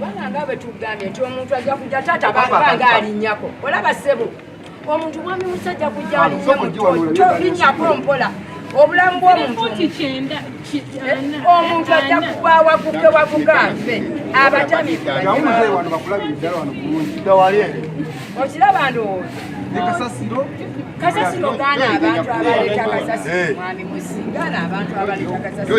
bana nga bwe tugambye nti omuntu ajja kujja taata banga alinnyako olaba ssebo omuntu mwami musajja kujalinnyako mpola obulamu bwomuntu omuntu ajja kuba waguke waguke afe abatamiokiraba ndowooza kasasiro gaana abantu abaleeta kasasiro eh. mwami musi gaana abantu abaleeta kasasiro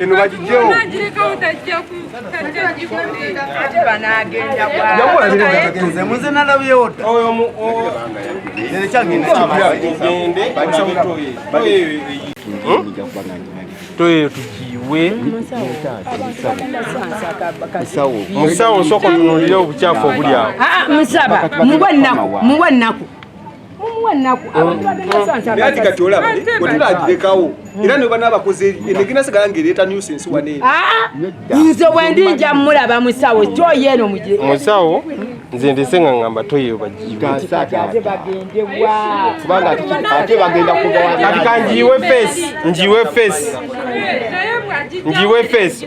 eno bagijjewo muze nalabyewo toyo tugiwe musawo nsooka otunulire obukyafu obuli awo muwe nnaku anti kati olaba wetulagirekawo era ne bana abakoze enegina sigala ngaereeta nusense wane nze bwendi nja mulaba musawo kyoyo eno mugire musawo nze ndese nga ngamba toyeyo bagiiwekati kanjiiwe fesi njiiwe fesi njiiwe fesi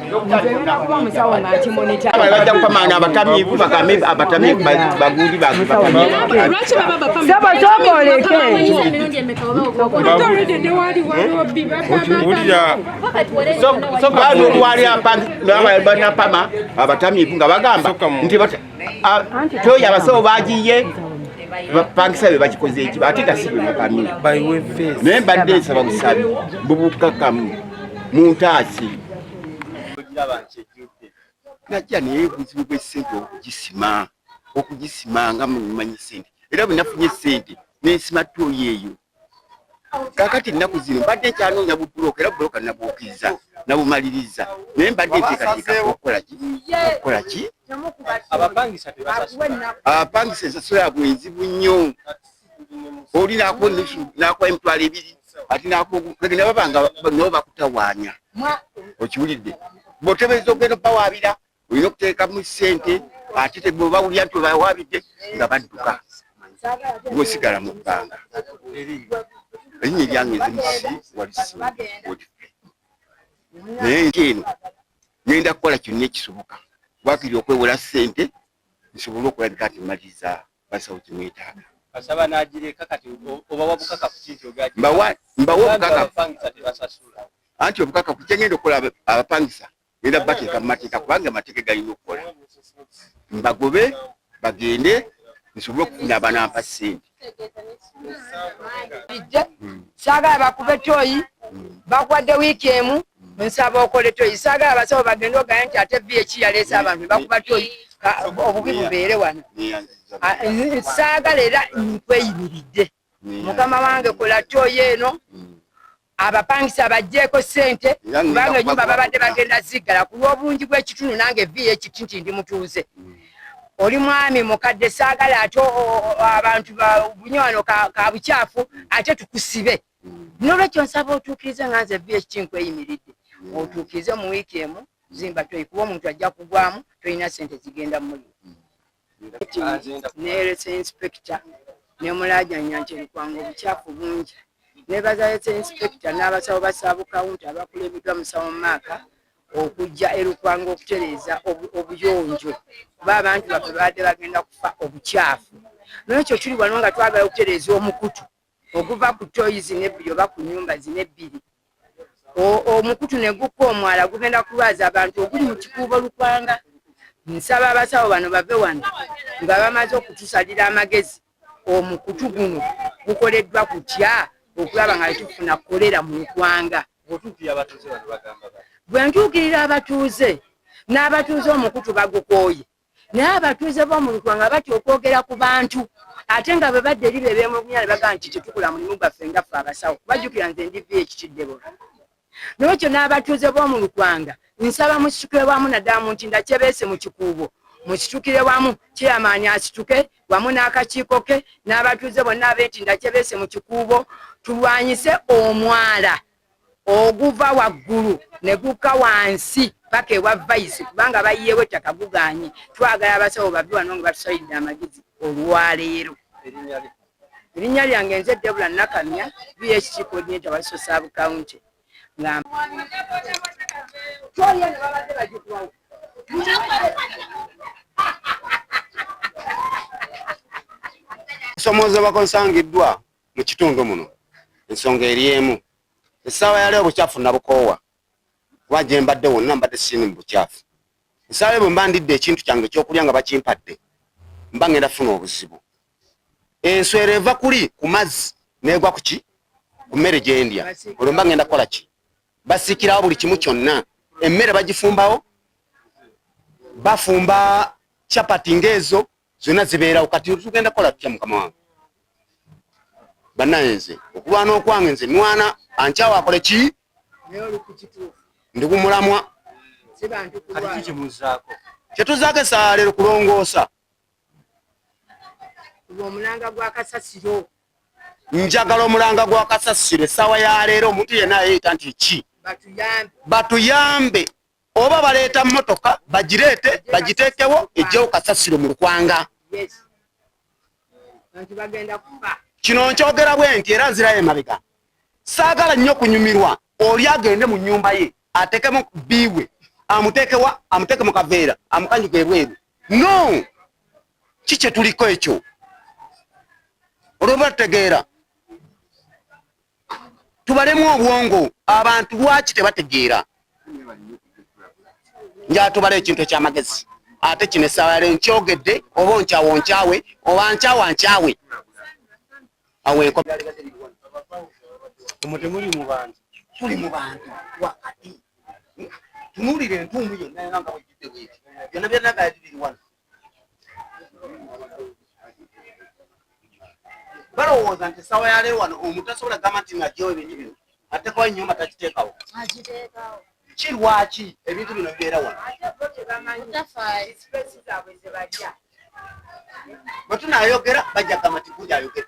Nzerina kuba musawo nga nkimonita. Bajja kupamanga abatamiivu bakame abatamiivu bagundi Lwaki baba bapamanga? Sebo soko oleke. Wulira. Soka wali apangi baba banapama abatamiivu nga bagamba nti toyo abasawo bagiye bapangisa be bakikoze eki ate tasibe mukami naye mbadde nsaba busabi bubukakamu muntaasi najja naye obuzibu bw'essente okugisima okugisima nga mumanyi ssente era bwe nafunye ssente nensima tooyi eyo kakati ennaku zino mbadde nkyanoonya bubulooka era bubulooka nabwokiriza nabumaliriza naye mbadde nteekateeka okukola ki okukola ki abapangisa ensasula yabwe nzibu nnyo oli nakuwa ennusu nakuwa emitwalo ebiri ati nakuwagenda baba nga nabo bakutawaanya okiwulidde bwotebereza okugenda okubawaabira olina okuteekamu ssente ate tebawulira nti obawaabidde nga badduka ngosigala mu bbanga erinnya eryange nzimusi walisi naye nti eno ngenda kukola kyonna ekisoboka wakiri okwewola ssente nsobole okulabika nti maliza basawo kyemwetaaga basaba nagireka kati obawa bukakafu ki nti ogabawa obukakafu anti obukakafu kyengenda okukola abapangisa era bateeka mu mateeka kubanga amateeka galina okukola mbagobe bagende nsobole okufuna abanampa sente ijja saagala bakuba etoyi bakuwadde wiiki emu nsaba okole toyi saagala abasawo bagende ogaye nti ate vi eki yaleese abantu bakuba toyi obubi bubeere wano saagala era nkweyimiridde mukama wange kola toyi eno abapangisa bajjeeko sente kubanga enyumba babadde bagenda ziggala ku lw'obungi bw'ekitundu nange vi ekiti nti ndi mutuuze mm. oli mwami mukadde saagala ate abantu bunywano ka bukyafu ate tukusibe nolwekyo nsaba otuukirize nga nze vh kinkweyimiridde otuukirize mu wiiki emu zimba toyi kuba omuntu ajja kugwamu tolina sente zigenda muli nerese inspector nemulajanya nti ebikwanga obukyafu bungi nebazalese inspector n'abasawo basabukawunti abakulembeddwa musawo maaka okujja erukwanga okutereeza obuyonjo kuba abantu baffe babadde bagenda kufa obukyafu nolwekyo tuli wano nga twagala okutereeza omukutu okuva ku toyi zino ebbiri oba ku nyumba zino ebbiri omukutu ne gukka omwala gugenda kulwaza abantu oguli mu kikuubo lukwanga nsaba abasawo bano bave wano nga bamaze okutusalira amagezi omukutu guno gukoleddwa kutya okulaba nga tufuna kolera mu lukwanga bwe ntuukirira abatuuze n'abatuuze omukutu bagukooye naye abatuuze b'omu Lukwa nga batya okwogera ku bantu ate nga bwe badda eri be beemulugunya ne bagamba nti tetukola mulimu gwaffe nga ffe abasawo kubajjukira nze ndi vi ekitidde bona n'ekyo n'abatuuze b'omu Lukwanga nsaba musitukire wamu naddala mu ntinda kyebeese mu kikuubo musitukire wamu kyeyamaanyi asituke wamu n'akakiiko ke n'abatuuze bonna ab'entinda kyebeese mu kikuubo tulwanyise omwala oguva waggulu ne gukka wansi paka ewa vayisi kubanga bayiyeewo ettaka guganye twagala abasawo bave wano nga batusalidde amagezi olwaleero erinnya lyange nze debula nakamya bhc coordinator wa sosab county nga osomoozebwa konsangiddwa mu kitundu muno ensonga eri emu essaawa yali obukyafu nabukoowa kuba gye mbadde wonna mbadde siini mu bukyafu essaawa ebwe mba ndidde ekintu kyange ekyokulya nga bakimpadde mba ngenda funa obuzibu enswera eva kuli ku mazzi negwa kuki ku mmere gyendya olwo mba ngenda kukola ki basikirawo buli kimu kyonna emmere bagifumbawo bafumba chapati ngaezo zonna zibeerawo kati tugenda kukola tutya mukama wange banaye nze okulwana okwange nze nwana ankyawa akole ki ndi kumulamwa kyetuzaako esaala lero kulongoosa njagala omulanga gwa kasasiro essaawa ya leero omuntu yenna ayeeyita nti ki batuyambe oba baleeta motoka bagireete bagiteekewo ejjewo kasasiro mu lukwanga kino nkyogera bwe nti era nzirayo emabega saagala nnyo kunyumirwa oli agende mu nyumba ye atekemu biwe amutekewa amuteke mu kaveera amukanyuka ebweru no ki kyetuliko ekyo olwoba tutegeera tubalemu obwongo abantu lwaki tebategeera njatubala ekintu ekyamagezi ate kino essaawa yale nkyogedde oba onkyawa onkyawe oba nkyawa nkyawe awo enko omutemuli mu bantu tuli mu bantu wakati tunuulira entuumu yonna yona nga wejjudde bweti byonna byonna gayadiriri wano balowooza nti esawa yaleero wano omuntu asobola gamba nti nagyewo ebintu bino atekawo enyumba takiteekawo ki lwaki ebintu bino bibeera wano bwe tunayogera bajja gamba nti guja ayogera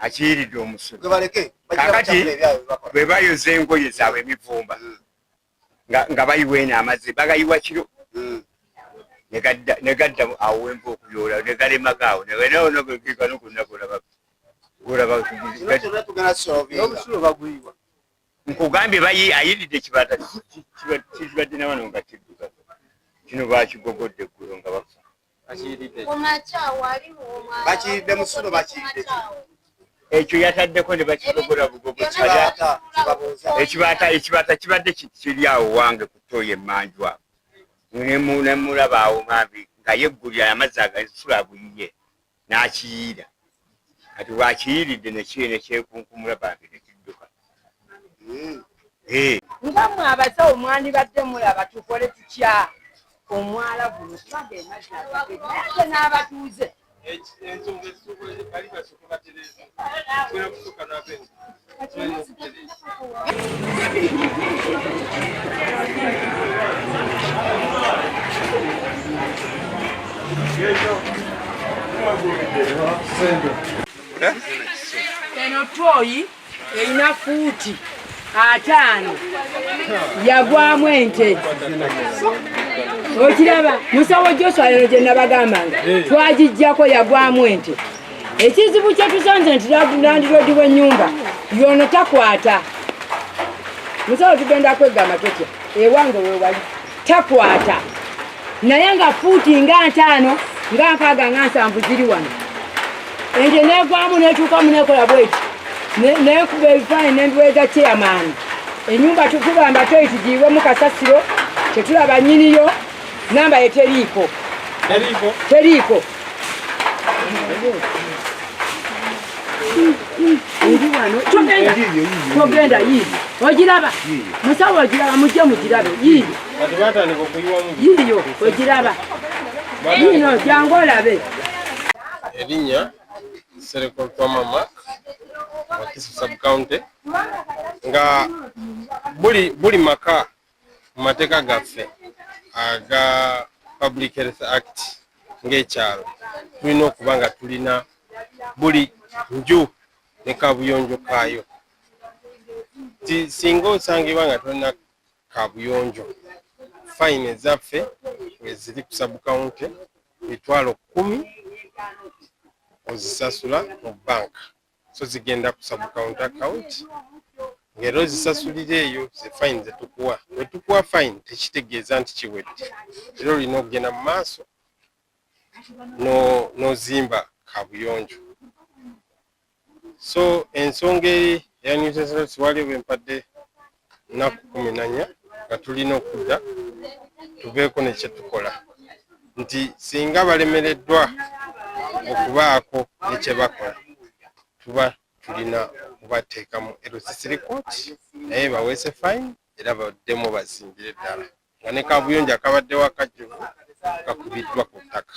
akiyiridde omusulo kakati bwe bayoza engoye zaabwe emivumba hmm. nga bayiwa eno amazzi bagayiwa kiro hmm. ne gadda awo wenva okuyoola ne galemaga awo nkugambye bayi ayiridde kibata kibadde nawano nga kidduka kino bakigogodde eggulo nga bafa bakiridde musulo bakiridde ekyo yataddeko ne bakigogora bugogo ekibata kibadde kiri awo wange kutoyo emanju awo nemulaba awo mambi nga yeggulira amazzi agasulo aguyiye n'akiyiira kati bwakiyiiridde nekiyo nekyekunkumula bambi nekidduka eh. nga mwe abasawo mwandibadde mulaba tukole tutya omwala guno kubaga emazzi ate n'abatuuze eno toyi erina fuuti ataano yagwamu ente okiraba musawo joswa lero gye nabagambanga eh. twagijjako yagwamu ente ekizibu kyetusanze nti landiroodi w'ennyumba yono takwata musawo tugenda kweggamba tutya ewange wewali takwata naye nga fuuti nga ntaano nga nkaaga nga nsanvu ziri wano ente negwamu netuukamu nekola bweki nekuba ebifaananyi nembiweza kyeyamaani enyumba tukugamba toyitigiibwemu kasasiro tetulaba nyiniyo namba yeteriiko teriiko togenda yiiyi ogiraba musawo ogiraba mujje mugirabe yiiyi yiiyo ogiraba yiino jangu olabe erinnya sereko twamama wakisi subcounty nga buli buli maka mu mateeka gaffe aga Public Health Act ng'ekyalo tulina okuba nga tulina buli nju ne kabuyonjo kaayo. Singa osangibwa nga tolina kabuyonjo, fayini ezaffe weziri ku sabukawunti mitwalo kkumi ozisasula mu bbanka. so zigenda ku subcount account ng'era ozisasulira eyo ze fine ze tukuwa bwe tukuwa fine tekitegeeza nti kiwedde era olina okugenda mu maaso n'ozimba kabuyonjo so ensonga eri eya newsesns waliwo bwe mpadde nnaku kumi nanya nga tulina okudda tubeeko ne kye tukola nti singa balemereddwa okubaako ne kye bakola tuba tulina okubateekamu erosisi rikooti naye baweese fayini era baddemu bazimbire ddala nga ne kabuyonjo akabaddewo akajjuvu kakubiddwa ku ttaka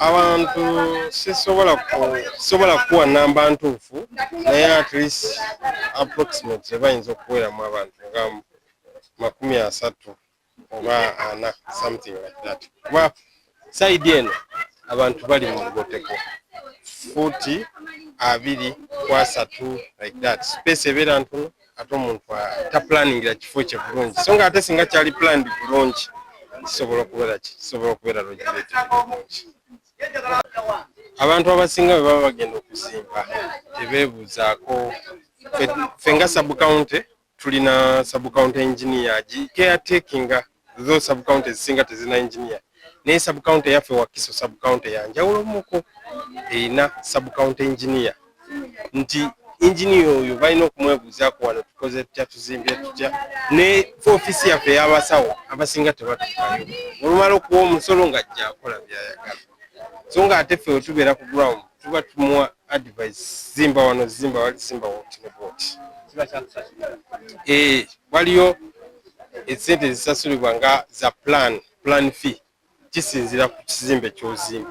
abantu sisobola sisobola kukuwa namba ntuufu naye at least approximate bayinza okuweramu abantu nga makumi asatu oba ana something like that kuba saidi eno abantu bali mu lugoteko fuuti abiri kwasatu like that space ebeera ntono ate omuntu taplaningira kifo kye bulungi so nga ate singa kyali planned bulungi kisobola okubeera kisobola okubeera lojireti bulungi abantu abasinga bwe baba bagenda okuzimba tebeebuuzaako ffe nga subcounty tulina subcounty engineer gi caretakinga though sub county ezisinga tezina engineer naye sub county yaffe wakiso sub county yanjawulomuko erina sub county engineer nti engineer oyo balina okumwebuuzaako wano tukoze tutya tuzimbye tutya ne ofisi yaffe yabasawo abasinga tebatukayo olumala okuwa omusolo nga jjakola byayagala so nga ate ffe wetubeera ku ground tuba tumuwa advice zimba wano zimba wali zimba woti ne bwoti eh, waliyo esente ezisasulibwa nga za plan plan fee kisinzira ku kizimbe kyozimba